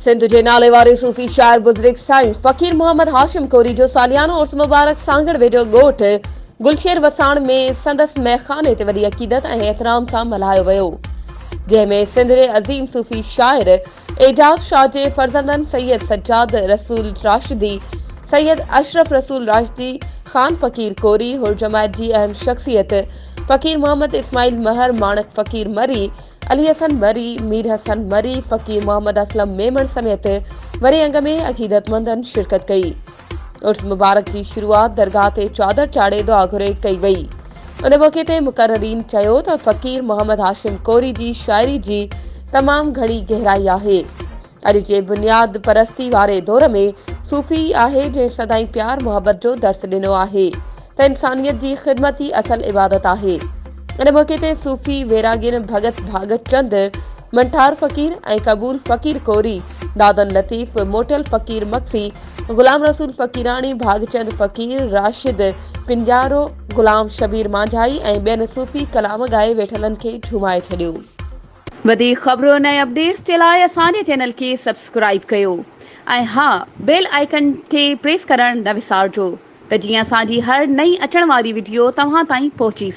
سنڌ جي ناليواري صوفي شاعر بزرگ سائين فقير محمد هاشم ڪوري جو ساليانو عرس مبارڪ سانگهڙ ويجهو ڳوٺ گلشير وساڻ ۾ سندس ميخاني تي وڏي عقيدت ۽ احترام سان ملهايو ويو جنهن ۾ سنڌ جي عظيم صوفي شاعر اعجاز شاهه جي فرزندن سيد سجاد رسول راشدي، سيد اشرف رسول راشدي، خان فقير ڪوري، حرجماعت جي اهم شخصيت فقير محمد اسماعيل مهر، ماڻڪ فقير مري، علي حسن مري، مير حسن مري، فقير محمد اسلم ميمڻ سميت وري انگ ۾ عقيدتمندن شرڪت ڪئي. عرس مبارڪ جي شروعات درگاهه تي چادر چاڙهي دعا گهري ڪئي وئي ان موقعي تي مقررين چيو ته فقير محمد هاشم ڪوري جي شاعري جي تمام گهڻي گهرائي آهي اڄ جي بنياد پرستي واري دور ۾ صوفي ئي آهي جنهن سدائين پيار محبت جو درس ڏنو آهي ته انسانيت جي خدمت ئي اصل عبادت آهي. ان موقعي تي صوفي ويراڳين ڀڳت ڀاڳت چند، منٺار فقير ۽ قبول فقير ڪوري، دادن لطيف، موٽيل فقير مگسي، غلام رسول فقيراڻي، ڀاڳچند فقير، راشد پنجارو، غلام شبير مانجهائي ۽ ٻين صوفي ڪلام ڳائي ويٺلن کي جهومائي ڇڏيو. وڌيڪ خبرن ۽ اپڊيٽس جي لاء اسان جي چينل کي سبسڪرائيب ڪيو ۽ ها بيل آئيڪن کي پريس ڪرڻ نه وسارجو ته جيئن اسان جي هر نئين اچڻ واري وڊيو توهان تائين پهچي سگهي.